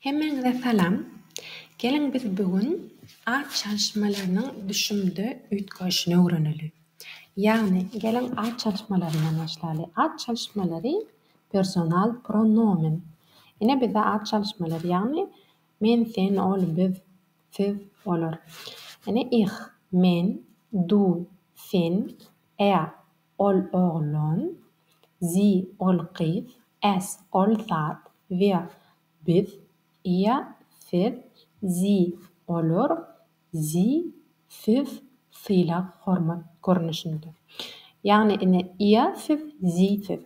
Hemmäňize salam! Geliň biz bu gün at çalyşmalarynyň düşümde üýtgäşini öwreneli. Ýagny geliň at çalyşmalaryndan başlaly. At çalyşmalary personal pronomen. Ine bizde at çalyşmalary ýagny men, sen, ol, biz, siz, olar. Ine ich, men, du, sen, er, Ol oglun, zi, ol gyz, es, ol zat, vi, biz, ia, siz, zi, olar, zi, siz, sylag-hormat görnüşinde. Ýagny, ine, ia, siz, zi, siz.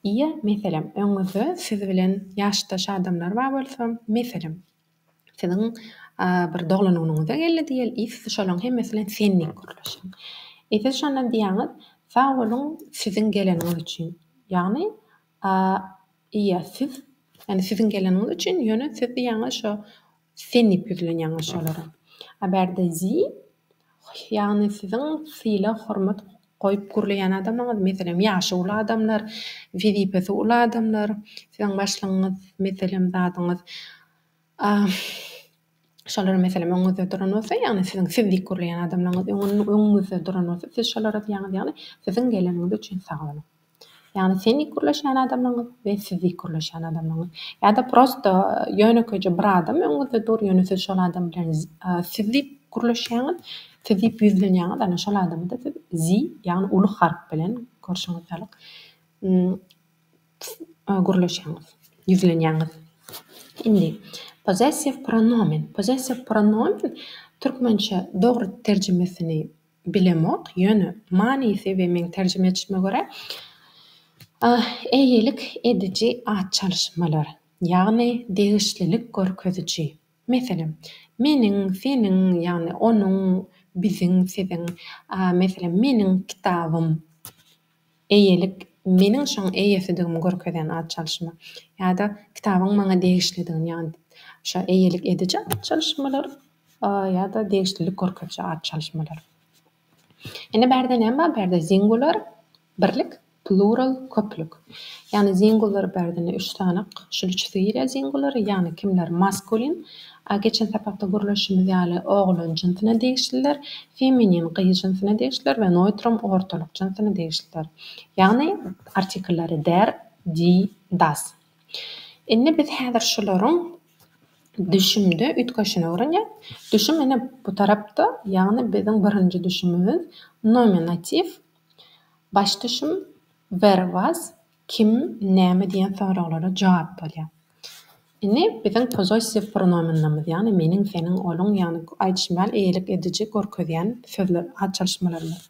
Ia, meselem, öňüňizde siz bilen ýaşdaş adamlar bar bolsa, meselem, Siziň bir doglanynyňyza geldi diýeli, iýsi siz şolaryň hemmesi bilen sen diýip gürleşiň. E siz şondan diýýäňiz, Sag boluň siziň geleniňiz üçin. Ýagny, ýa siz, ýagny siziň geleniňiz üçin, ýöne siz diýýäňiz şo sen diýip ýüzlenýäňiz şolara. A bärde Sie, ýagny siziň sylag-hormat goýup gürleýän adamyňyz, meselem, ýaşy uly adamlar, wezipesi uly adamlar, siziň başlygyňyz, meselem, zadyňyz, a, şolar, meselem, öňüňizde duran bolsa, ýagny siziň siz diýip gürleýän adamlaryňyz öňüňizde duran bolsa, siz şolara diýýäňiz, ýagny, Siziň geleniňiz üçin sag boluň! Ýagny sen dik gürleşýän adamlaňyz we siz dik gürleşýän adamlaňyz. Ýa-da prosta ýönekeýje bir adam öňüňizde dur, ýöne siz şol adam bilen siz diýip gürleşýäňiz, siz diýip ýüzlenýäňiz, ana şol adamda siz zi, ýagny uly harp bilen görşüňiz ýalyk gürleşýäňiz, ýüzlenýäňiz. Indi pozessiw pronomen. Pozessiw pronomen türkmençe dogry terjimesini Bilemok, ýöne manysy we meň terjime etişime görä, eýelik ediji at çalyşmalar, ýagny degişlilik görkeziji. Meselem, meniň, seniň, ýagny onuň, biziň, siziň, meselem, meniň kitabym, eýelik, meniň şoň eýesidigimi görkezýän at çalyşma ýa-da kitabyň maňa degişlidigini, ýagny şo eýelik ediji at çalyşmalar. Ýa-da degişlilik görkeziji at çalyşmalar. Ine bärde näme bar? Bärde singular, birlik, plural, köplük. Ýagny singular bärde ine üç sanak, şul üçüsi girýär singular, ýagny kimler maskulin, a geçen sapakda gürleşişimiz ýaly oglan jynsyna degişliler, feminin gyz jynsyna degişliler we noýtrum ortalyk jynsyna degişliler. Ýagny artikllary der, di, das. Indi biz häzir şularyň Düşümde üýtgeşine öwrenýär. Düşüm ine bu tarapda, ýagny biziň birinji düşümimiz nominatiw. Baş düşüm where was, kim, näme diýen soraglara jogap bolýar. Indi biziň pozosiw pronominlerimiz, ýagny meniň, seniň, onuň, ýagny aýdyşym ýaly eýelik ediji görkezýän sözler, at çalyşmalarymyz.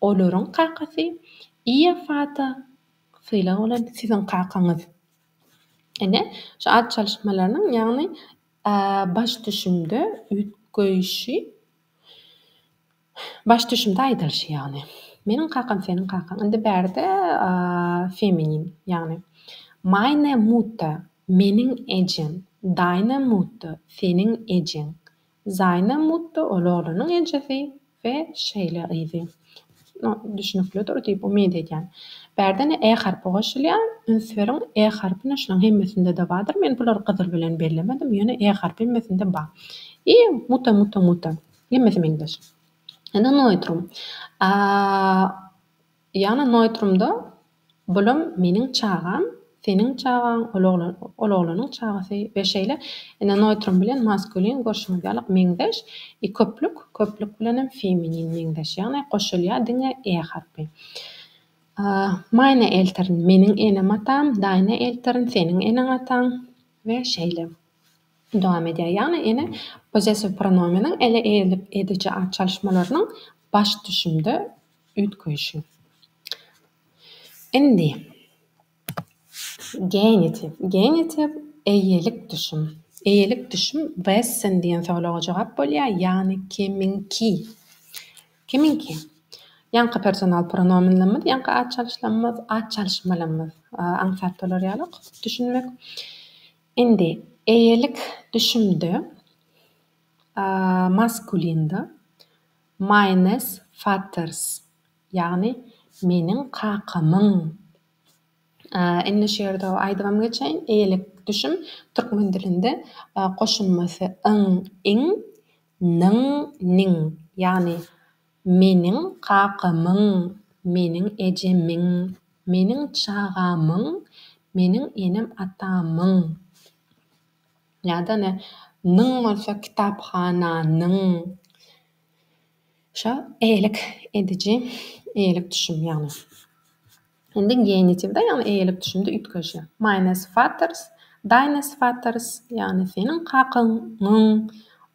Olaryň kakasy Iýofada sylag bolan siziň kakaňyz. Ine, şu at çalyşmalarynyň, ýagny baş düşümde üýtgeýşi, baş düşümde aýdylyşy ýagny. Meniň kakam seniň kakaň. Indi bärde feminin, ýagny Meine Mutter, meniň ejem, Deine Mutter, seniň ejeň, Zaýna Mutto ol oglunyň ejesi we şeýle gyzy. No, düşnüklidir diýip umyt edýän. Bärde-ne e harpy goşulýar. Üns beriň, e harpy-ne şularyň hemmesinde-de bardyr. Men bulary gyzyl bilen bellemedim, ýöne e harpy hemmesinde bar. I Mutto, Mutto, Mutto. Hemmesi meňzeş. Indi Noitrum. A. Jana noýtrumda bulam meniň çagam, seniň çagaň, ol oglan, ol oglanyň çagasy we şeýle ene noýtrum bilen maskulin görşüňiz ýalyk meňzeş i köplük, köplük bilenem feminin meňzeş, ýagny goşulýar diňe e harpy. Meine Eltern, meniň enem atam, deine Eltern, seniň eneň ataň we şeýle dowam edýär. Ýagny ene possessiw pronomeniň ele ediji at çalyşmalarynyň baş düşümde, üýtgeýşi. Indi, genitiv. Genitiv, eýelik düşüm. Eýelik düşüm wessen diýen soraga jogap bolýar, ýagny kimiňki. Kimiňki. Ýaňky personal pronomenlerimiz, ýaňky at çalyşlarymyz, at çalyşmalarymyz. Aňsat bolar ýalyk düşünmek. Indi, eýelik düşümde, maskulinde, Meines Vaters, ýagny Meniň kakamyň. Indi şu ýerde aýdybam geçeýin, eýelik düşüm türkmen dilinde goşulmasy yň, iň, nyň, niň, ýagny meniň kakamyň, meniň ejemiň, meniň çagamyň, meniň enem-atamyň. Ýa-da ine, nyň bolsa kitaphananyň. Şo eýelik ediji, eýelik düşüm ýagny. Indi genitiwde, ýagny eýelik düşümde üýtgeşýär. Meine Vaters, deines Vaters, ýagny seniň kakaňyň,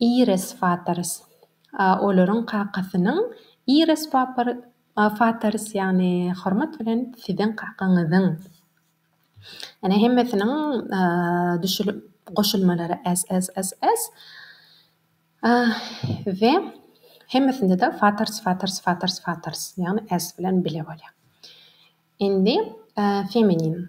Iris Fatarys. A olaryň kakasynyň Iris Fapar Fatarys ýagny hormat bilen siziň kakaňyzyň. Ene hemmesiniň düşülip goşulmalary S S S S. A we hemmesinde-de Fatarys Fatarys Fatarys Fatarys ýagny S bilen bile bolýar. Indi feminin.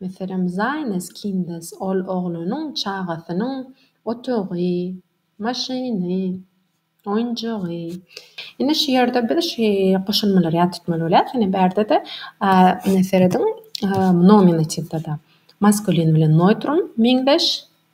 Meselem, Zaýnes Kindes, ol oglanyň, çagasynyň otagy, maşyny, oýunjagy. Indi şu ýerde biz şu goşulmalary ýat tutmaly bolýarys. Ine, bärde-de ine serediň, nominatiwde-de maskulin bilen neutrum meňzeş,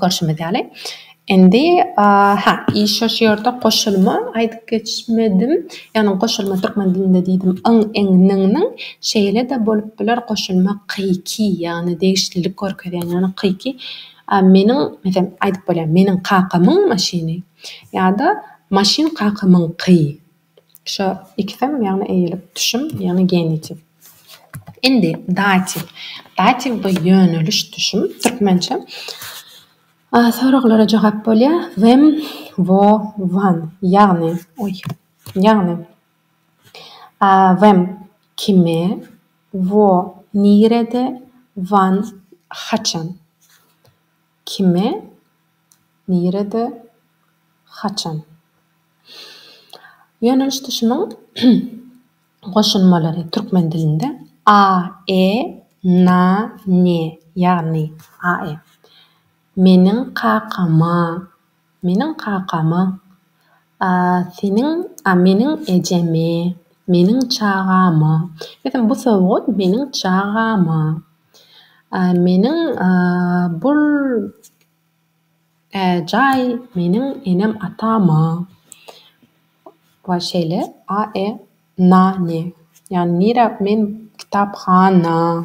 Görşümiz ýaly, indi, hä, işe şu ýerde goşulma aýdyp geçmedim. Ýagny goşulma türkmen dilinde diýdim, yň, iň, nyň, nyň. Şeýle-de bolup biler, goşulma ky, ki, ýagny degişlilik görkezýän, ýagny ky, ki. Meniň, meselem, aýdyp bolýar, meniň kakamyň maşyny ýa-da maşyn kakamyňky. Şu ikisem, ýagny eýilip düşüm, ýagny genitiv. Indi datiw. Datiw bu ýöneliş düşüm, türkmençe. Soraglara jogap bolýar. Wem, wo, wan. Ýagny, oý, ýagny wem, kime, wo, nirede, wan, haçan. Kime? Nirede? Haçan? Ýöneliş düşümiň goşulmalary türkmen dilinde a, e, na, ne, ýagny, a, e. Meniň kakama. Meniň kakamy, a seniň, a meniň ejemi, meniň çagamy, meselem, bu sowgat meniň çagama, a meniň, a bul, a jaý meniň enem-atama we şeýle a e na ne, ýagny nirä men kitaphana.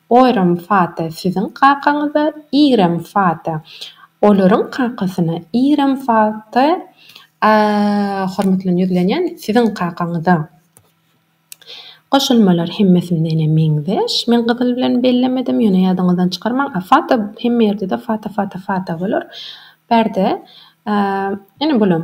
Oýram Fata siziň kakaňyza Iram Fata olaryň kakasyna Iram Fata hormat bilen ýüzlenýän siziň kakaňyza. Goşulmalar hemmesindene meňzeş. Men gyzyl bilen bellemedim ýöne ýadyňyzdan çykarmaň. A Fata hemme ýerdede Fata Fata Fata bolar. Bärde ene bulam.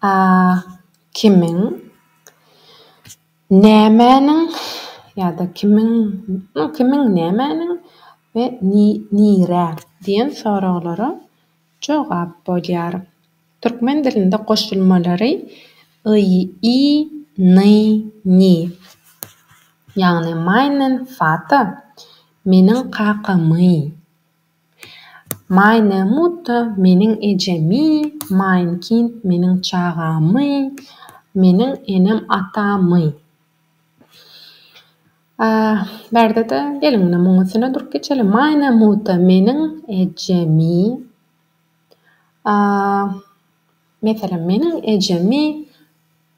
A. Kimiň? Nämäniň? ýa-da Kimiň? no Kimiň? Nämäniň? we Ni? Nirä? diýen soraglara jogap bolýar. Türkmen dilinde goşulmalary y, i, ny, ni, ýagny Meinen Vater, Meniň kakamy. Maýnemutda meniň ejemi, Maýnkint meniň çagamy, Meniň enem atamy. Bärde-de geliň indi munuň üstüne durup geçeliň. Maýnemutda meniň ejemi, Meselem, meniň ejemi,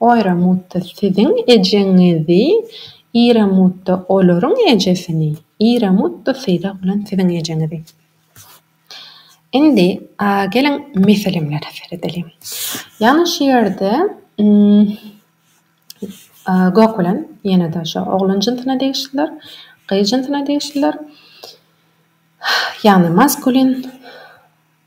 Oýramutda siziň ejeňizi, Iramutda olaryň ejesini, Iramutda sylag bilen siziň ejeňizi. Indi geliň meselemlere seredeliň. Ýagny şu ýerde gök bilen ýene-de şo oglan jynsyna degişliler, gyz jynsyna degişliler. Ýagny maskulin.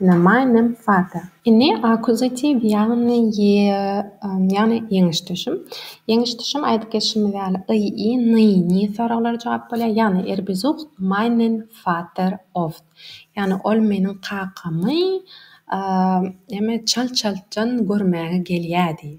Na meinem Vater. Indi akuzativ ýagny ýe ýagny ýeňiş düşüm. Ýeňiş düşüm aýdyp geçişimiz ýaly y, i, ny, nji soraglara jogap bolýar. Ýagny er besucht meinen Vater oft. Ýagny ol meniň kakamy näme çalt-çaltdan görmäge gelýärdi.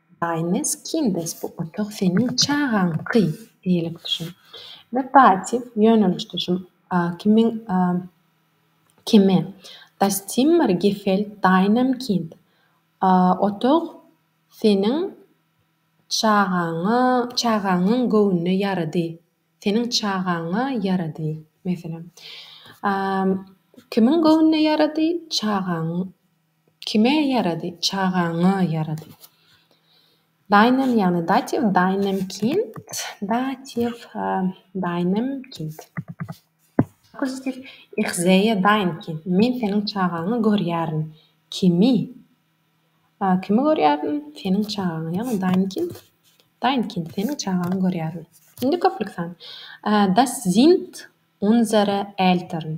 Baý meskin bes bu otag seniň çagaňky diýlip düşün we passiw ýöneliş düşüm kimin kimi Das Zimmer gefällt deinem Kind otag seniň çagaňa çagaňyň göwnüne ýarady seniň çagaňa ýarady meselem kimin göwnüne ýarady çagaň Kime ýarady? Çagaňa ýarady. Daýnem ýagny datiw, daýnem kind, datiw, daýnem kind. Akustiw, Ich sehe dein Kind, men seniň çagaňy görýärin. Kimi? Kimi görýärin? Seniň çagaňy, ýagny dein Kind, dein Kind, seniň çagaňy görýärin. Indi köplük san. Das sind unsere Eltern.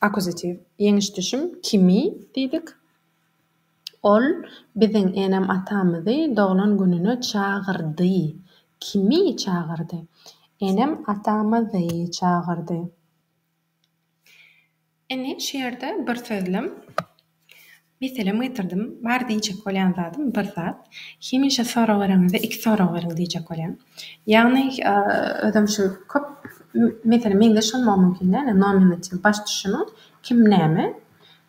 Akuzatiw. Ýeňiş düşüm, kimi, diýdik. Ol biziň enem-atamyzy doglan gününe çagyrdy. Kimi çagyrdy? Enem-atamyzy çagyrdy. Indi şu ýerde bir sözlem. Meselem getirdim. Bar diýjek bolýan zadym bir zat. Hemişe sorag bereňizde iki sorag beriň diýjek bolýan. Ýagny özem şu köp meselem meňzeş bolmagy mümkin däl nominativ baş düşümiň kim näme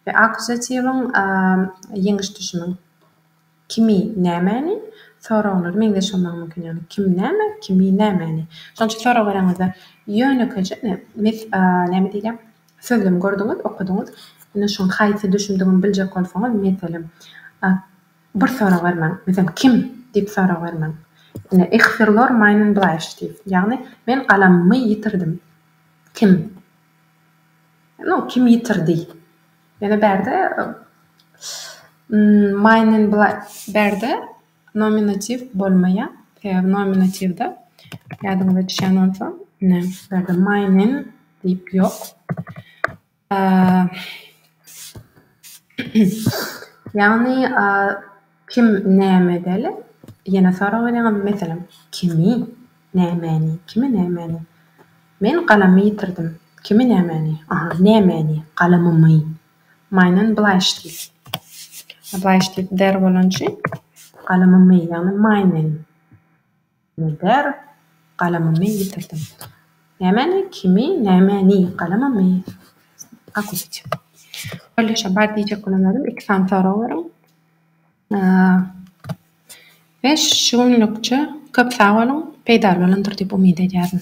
we akuzatiwiň ýeňiş düşümiň Kimi, nämäni? Soraglary meňzeş bolmagy mümkin, ýagny kim näme, kimi nämäni. Şonuň üçin soraglaryňyzda ýönekeje ine, mes a, näme diýilýär, sözlemi gördüňiz, okadyňyz, ine şonuň haýsy düşündigini biljek bolsaňyz, meselem, a, bir sorag bermäň, meselem, kim? diýip sorag bermäň. Ine, Ich verlor meinen Bleistift, ýagny men galamymy ýitirdim. Kim? No, kim ýitirdi? Ýöne bärde Maýnen bla bärde nominatiw bolmaýar. Sebäbi nominatiwde ýadyňyza düşýän bolsa, ine, bärde Maýnen diýip ýok. Ýagny, Kim näme edeli? Ýene sorag berýäňizmi? Meselem, kimi? Nämäni? Kimi nämäni? Men galamy ýitirdim. Kimi nämäni? Aha, nämäni? Galamymy. Myny blaýyş diýip. Blaýyş diýip der bolan üçin galamymy, ýagny myny. Eder, Galamymy ýitirdim. Nämäni? Kimi? Nämäni? Galamymy? Akusiç. Kolleje bar diýjek bolan zadym iki sany sorag beriň. We şu günlükçe köp sag boluň, peýdaly bolandyr diýip umyt edýärin.